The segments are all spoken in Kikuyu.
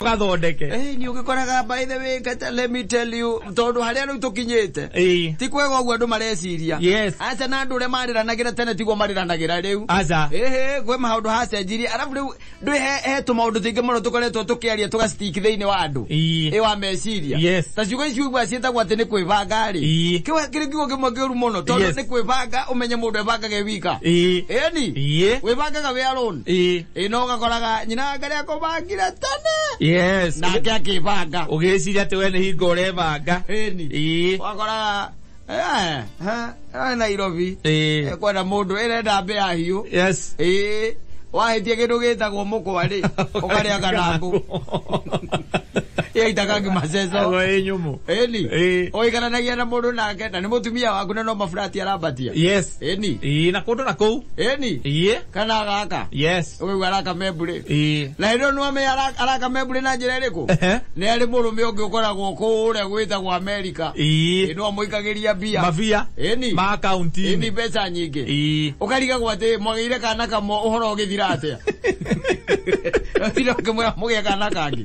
gathondeke Eh, ni ugikoraga by the way kata let me tell you tondu haria riu tukinyite Eh, ti kwega uguo andu mareciria Yes. aca na andu uria mariranagira tene tiguo mariranagira riu aca ehe gwe maundu hacenjirie arabu riu ndu he tu maundu tuingi muno tukoretwo tukiaria tugastik thiini wa andu Ii. i wa meciria Yes. ta ciugo icio igua cietagwo ati ni kwibanga ri Ii. kiri kiugo kimwe kiuru muno tondu Yes. ni kwibanga umenye mundu ebangage wika Ii. eni Ii. wibangaga wi alone Ĩ. ĩ no gakoraga nyina ngarĩ akũbangire tene yes nake akĩbanga ũgĩciria atĩ we nĩ hingo ũrebanga ĩni Ĩ. wakoraga eh, eh, eh, nairobi Ĩ. Eh, kwenda mũndũ ĩrenda mbĩ ya hiũ yes ĩĩ wahĩtie kĩndũ gĩtagwo mũkwa rĩ ũkarĩa kanangũ yaitaga ngimaceco Agwa ĩ nyũmũ ĩni Ĩ. ũikaranagia na mũndũ nake na nĩ mũtumia waku na no maburati arambatia yes eni ii na kundu na kuu eni ii kana agaka yes ũgĩu araka membũrĩ ii na hĩndĩ ĩyo nĩwamenya ara- araka membũrĩ na njĩra ĩrĩkũ Ehe. nĩ arĩ mũrũme ũngĩ ũkoragwo kũu ũrĩa gwĩtagwo amerika ii ĩno amũikagĩria mbia mavia eni ma eni akaunti-inĩ mbeca nyingĩ ii ũkarigagwo atĩ mwagĩire kana kamwe ũhoro ũgĩthira atĩa ũthira ũkĩmwĩra mũgĩa kana kangĩ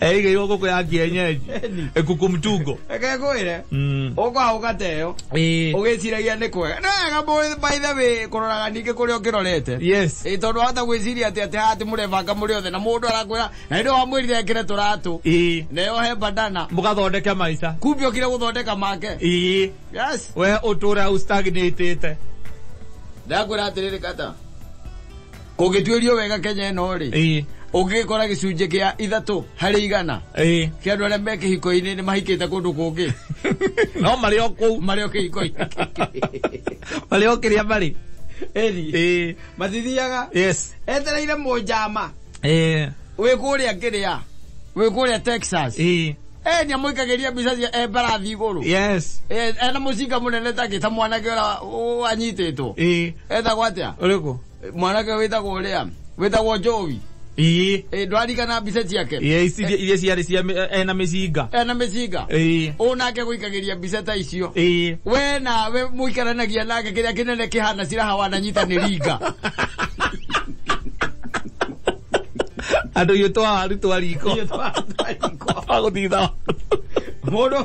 erige igo goko ya kienyeji ekuku mtugo ekekwire Mm. ukwaa ugateyo Eh, ugiciragia nĩ kwega nĩ wega mũ- by the way kũroraga ningĩ kũrĩa ũkĩrorete yes Ĩ, tondũ wahota gwĩciria atĩ atĩ haha atĩ mũrebanga mũrĩ othe na mũndũ arakwĩra na nĩ wamwĩrire ekĩre tũratũ Ii. nayo he bandana mũgathondeke maica kumbi okire gũthondeka make Ii. yes we ũtũra ũstagnĩtĩte ndakwĩra atĩrĩrĩ kata ũngĩtuĩrio wega kenya ĩno rĩ ĩĩ ũngĩkora gĩcunjĩ kĩa ithatũ harĩ igana ĩĩ kĩa andũ arĩa me kĩhiko-inĩ nĩ mahikĩte kũndũ kũngĩ no marĩ o kũu marĩ o kĩhiko-inĩ marĩ o kĩrĩa marĩ Ĩri. ĩĩ mathithiaga yes etereire mũnjama ĩĩ wĩ kũrĩa kĩrĩa wĩ kũrĩa texas ĩĩ e nĩ amũikagĩria mbica cia e mbarathi igũrũ yes Eh, ena mũcinga mũnene takĩ ta mwanake ũrĩa wanyitĩtwo ĩĩ etagwo atĩa ũrĩkũ mwanake wĩtagwo ũrĩa wĩtagwo njovi ĩĩ Eh, ndwarigana mbica ciake iria iria ciarĩ cia mĩ- ena mĩcinga ena mĩcinga ĩĩ ũ nake gũikagĩria mbica ta icio ĩĩ we nawe mũikaranagia nake kĩrĩa kĩnene kĩhana ciraha wananyita nĩ ringa andå iå twawaru twa riko twagå thitha mũndũ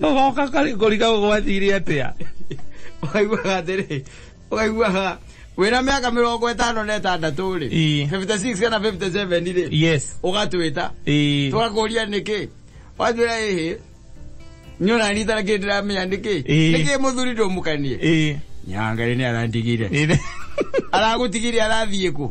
goka karigori kau gwathire atia ũkaiguaga atĩrĩ ũkaiguaga wĩna mĩaka mĩrongo ĩtano na ĩtandatũ rĩ Ii. 56 kana 57 rĩ yes ũgatwĩta Ii. tũgakũria nĩkĩ watwĩra ĩhĩ nyona rita na kĩndũ ndĩramenya nĩkĩ Ii. nĩkĩ mũthuri ndũmũkanie Ii. nyangarĩ nĩ arandigire Ii. aragũtigire arathiĩ kũ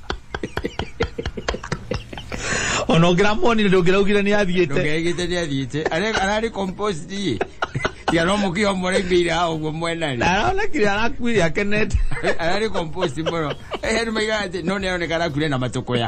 ona ngiramwonire ndungiraugire ni athiite ndũngegĩte nĩ athiĩte Arĩ- ararĩ composed iĩ tiga no mũkĩo mũraimbĩire ha ũguo mwena rĩ aronekire arakuire akenete ararĩ composed mũno heru maiga atĩ no nĩ aroneka arakuire na matũkũya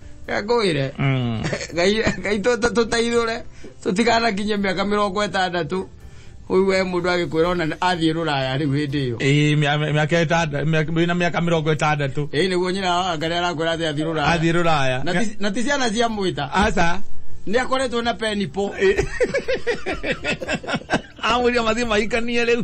ngwire Mm. ngai ngai tũ- tũteithũre tũtikanakinye mĩaka mĩrongo ĩtandatũ ũyũ we mũndũ agĩkwĩra ona athiĩ rũraya rĩu hĩndĩ ĩyo Ĩĩ, mĩa- mĩa- mĩaka ĩtanda- mĩa- wĩna mĩaka mĩrongo ĩtandatũ ĩĩ nĩguo nyina wa ngarĩ arakwĩra atĩ athiĩ rũraya athiĩ rũraya Na ti- na ti ciana cia mwĩta aca nĩ akoretwo na penipo amwĩria mathiĩ mahikanie rĩu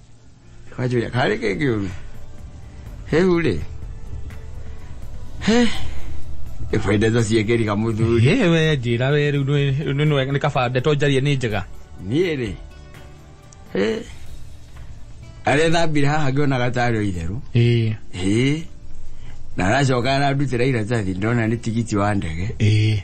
Wajuya kale ke kiulu. He ule. He. Ifaida za siekeri kamuthuri. Ye we njira we riu ni ni ni kaba ndeto njarie ni njega. Niĩ rĩ. He. Arĩa thambire haha ngĩona gatarĩ o itherũ. Eh. Ĩĩ. Na aracoka arandutĩra iratathi ndona nĩ tigiti wa ndege. Eh.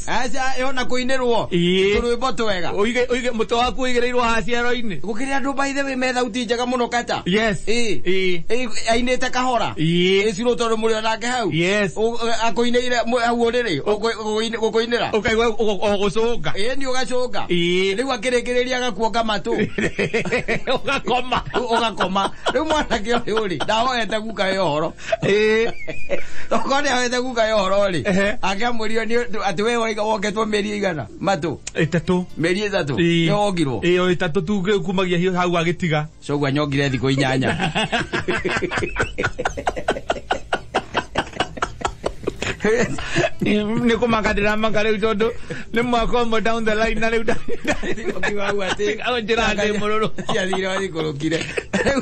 aca ĩho na kũinĩrwo Ĩĩ. tũrwĩmbo twega Ũige- ũige- mũtwe waku ũigĩrĩirwo haha ciaro-inĩ gũkĩrĩ andũ by the way me thauti njega mũno kata yes Ĩĩ. Ĩĩ. Ĩĩ, ainĩte kahora Ĩĩ. ĩcirwo tondũ mũrĩ onake hau Yes. Ũ- ũ- akũinĩire mũ- hau ũrĩrĩ ũkũ- ũkũ- gũkũinĩra ũkaigua ũ- ũ- gũcũnga ĩĩ nĩ ũgacũnga Ĩĩ. rĩu akĩrĩkĩrĩria agakuonga matũ ũgakoma Ũ- ũgakoma rĩu mwanake ũyũ rĩ ndahoete guka ĩ ũhoro Ĩĩ. Okorwo nĩ ahete guka ya ũhoro rĩ Ehe. akĩamũrio nĩ ũndũ atĩ we waiga woketwo mĩeri ĩigana matũ ĩtatũ mĩeri ĩtatũ Ĩĩ. nĩ wongirwo ĩyo ĩtatũ tu ngĩ- kumagia hiũ hau agĩtiga coguo anyongire thikũ inyanya nä kå maka ndä ramaka rä u tondå nä mwaka å mwe down the line na rä u Thikũ hau atĩ- njä ra ndä må rå rå ciathire wathikũrũkire Rĩu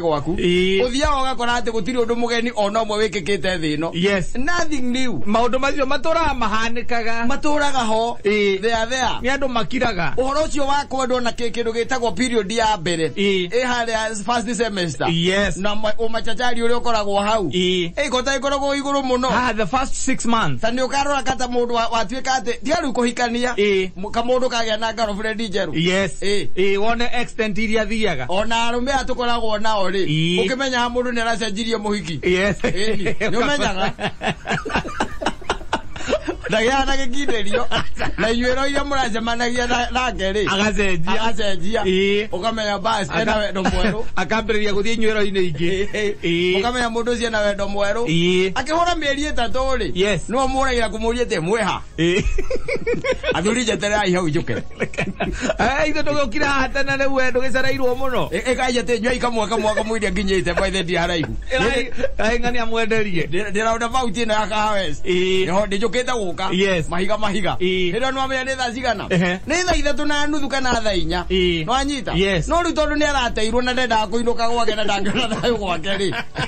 gwaku Ĩĩ. uthiaga ugakora ati gutiri undu mugeni ona umwe wikikite thi ino Yes. nothing new maundu macio maturaga mahanikaga maturaga ho Ĩĩ. thea thea ni andu makiraga uhoro ucio wa kwendwo na kä kindu gitagwo period ya mbere Ĩĩ. ä harä first semester Yes. na ma- umachachari uria ukoragwo hau Ĩĩ. ä kota ikoragwo iguru muno ah the first six months ta nä å karora kata må ndå watuä ka atä tiarä u kå hikania Ĩĩ. kamũndũ kagĩa na girlfriend njerũ yes Ĩ. Ĩ, wone extent iria thiaga ona arũme aya tũkoragwo nao rĩ Ii. ũkĩmenyaga mũndũ nĩ aracenjirie mũhiki yes Ĩni, nĩ ũmenyaga ndagĩaga na gĩkindĩrio na inyuĩro iria mũracemanagia na- nake rĩ agacenjia agacenjia Ĩ. ũkamenya basi ena Aka- wendo mwerũ akambĩrĩria gũthiĩ inyuĩro-inĩ ingĩ Ĩ. ũkamenya mũndũ ũcio ena wendo mwerũ Ĩ. akĩhũra mĩeri ĩtatũ rĩ Yes. nĩwe mũragira kũmũria atĩ mwĩha Eh. athuri njetererai hau njuke Eh, ithe ndũgĩũkira haha tene rĩu we ndũgĩcereirwo mũno ĩkai njete nyua ikamwa kamwa kamwĩria nginyĩte mbaithe ndi haraihu aing'ania mwenderie ndĩraunda bauti ĩno ya kahawes ĩho ndĩnjũkĩte gũka Yes. mahiga mahiga Ĩ. hĩndĩ nĩwamenya nĩ thaa cigana Ehe. nĩ thaa ithatũ na nuthu kana thaa inya Ĩ. nĩwanyita Yes. no rĩu tondũ nĩarateirwo na ndendaga kũinũka gwake na ndangĩona thayũ gwake rĩ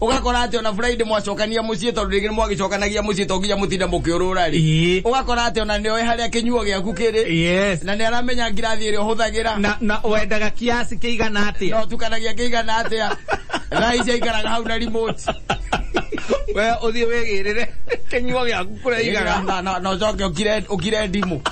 ũgakora atĩ ona friday mwacokania mũciĩ tondũ rĩngĩ mwagĩcokanagia mũciĩ to nginya mũtinda mũkĩũrũra rĩ Ĩĩ. ũgakora atĩ ona nĩoĩ harĩa kĩnyuo gĩaku kĩrĩ yes na nĩ aramenya ngirathi ĩrĩa ũhũthagĩra na na wendaga kiasi kĩigana na atia ũtukanagia kĩigana atĩa thaa ici aikaraga hau na remote we uthie wigirire kinyuo giaku kuria igana Na- na- na ũcoke ũkire- ũkire ndimũ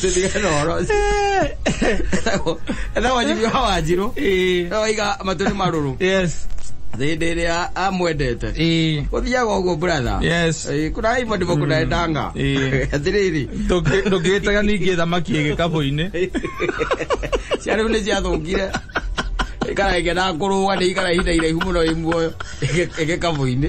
tũtigane ũhoro ũcio. Etagwo- etagwo Jimmy wa wanjirũ Eh, waiga matũ nĩ marũrũ yes hĩndĩ ĩrĩa amwendete Eh, gũthiaga ũguo bratha Yes. Eh, kuna hivyo ndivyo kunaendanga Eh. atirĩrĩ ndũngĩ- ndũngĩtaga ningĩ thamaki ĩgĩ kabũ-inĩ cia rĩu nĩ ciathũkire ikara ĩgĩna kũrũga nĩ ikara ihinda iraihu mũno ĩ muoyo ĩgĩkabũ-inĩ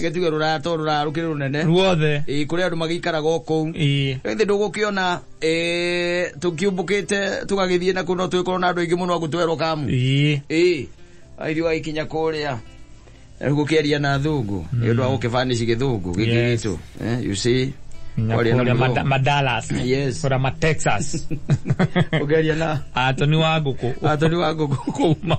reke tuge ruraya to ruraya rukiri runene ruothe Ĩĩ, kũrĩ andũ magĩikaraga o kũu Ĩĩ. ĩthĩ ndũgũkĩona eh, tũkiumbũkĩte tũgagĩthiĩ na kũ no twĩkorwo na andũ aingĩ mũno agũtwerwo kamu Ĩĩ. ĩĩ aithu agĩkinya kũrĩa rĩu gũkĩaria na thũngũ nĩ ũndũ wa gũkĩbanici gĩthũngũ gĩkĩ Yes. gitũ Eh, you see Nginya Kwaria na kũrĩa mũthũngũ. Mada- madalas Yes. kũrĩa matexas ũkĩaria na atoni wa ngũkũ atoni wa ngũkũ kuma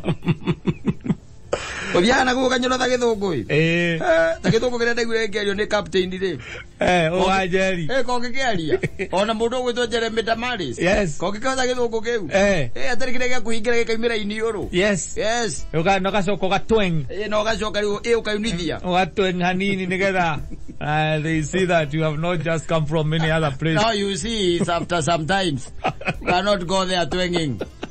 uthiaga na guka nyoro ta githungu ri Eh, ta githungu kiria ndaiguire ngerio ni captain ri eh, ũwanjeri. Eh, ko ngĩkĩaria ona mũndũ ũgwĩtwo Jeremy Damaris Yes. ko ngĩkĩhota gĩthũngũ kĩu Eh, Eh, atarĩ kĩrĩa gĩa kũhingĩra gĩkaimĩra iniũrũ yes. yes Ũka- na ũgacoka ũgatweng. Eh, na ũgacoka rĩu ĩ ũkaunithia Ũgatweng hanini nĩgetha, uh, they see that you have not just come from any other place. now you see it's after sometimes you cannot go there twanging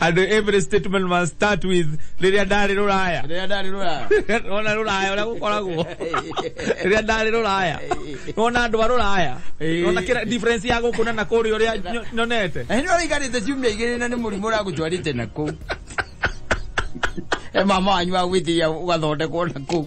and every statement must start with rĩrĩa ndarĩ rũraya rĩrĩa ndarĩ rũraya ona rũraya ũrĩa gũkoragwo rĩrĩa ndarĩ rũraya ona andũ a rũraya Ĩĩ. ona kĩra difference ya gũkũ na na kũrĩa ũrĩa nyo- nyonete na hĩndĩ ĩrĩa ũraikarĩte ciumia igĩrĩ na nĩ mũrimũ ũragũtwarĩte na kũu he mama wanyu wa gwĩtĩria ũgathondekwo na kũu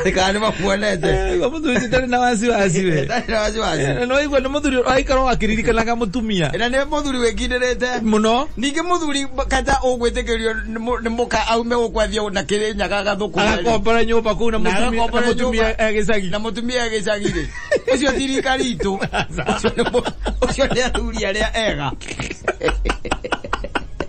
atikane mamuonete Eh, mũthuri ndarĩ na wasiwasi we Ndarĩ na wasiwasi. Eh, na waigua nĩ mũthuri aikaraga akĩririkanaga mũtumia na nä må thuri wä kindä mũno ningä må thuri kata å gwä tä kä rio nä må ka aume gå kwathiä na kä rä nyaga gathå kå agakombora nyũmba kũu na Na mũtumia- na agakombora mũtumia nyũmba. agĩcagi na må tumia gä cagä rä å cio thirikari itå å cio nä athuri arä a ega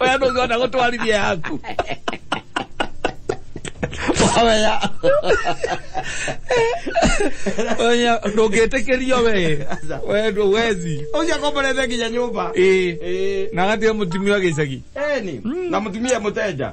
Oya ndugu wangu utuharibie yangu. Oya. Oya ndũngĩtĩkĩrio we. We ndũwezi. Ucio akomborete nginya nyumba. Ĩĩ. Eh. Na gatia mũtumia wa gĩcagi. Eni. Na mutumia muteja.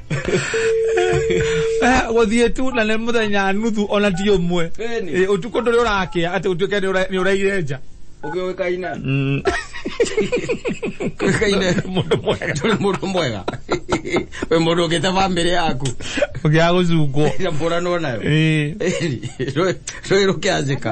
Eh, guthiä tu na nä må thenya nuthu ona ti å mwe Ĩni. Eh, å tukå ndå rä å rakä a atä gå tuä ke nä å raire nja Ũgĩũĩkaine. Mm. Ũgĩũĩkaine. Mũndũ mwega. Ndũrĩ mũndũ mwega. Wĩ mũndũ ũngĩte bamĩrĩ yaku. å gä a gå cungwo Na mbũranwo nayo. Ĩni. Rũĩ- Rũĩ rũkĩanjĩka.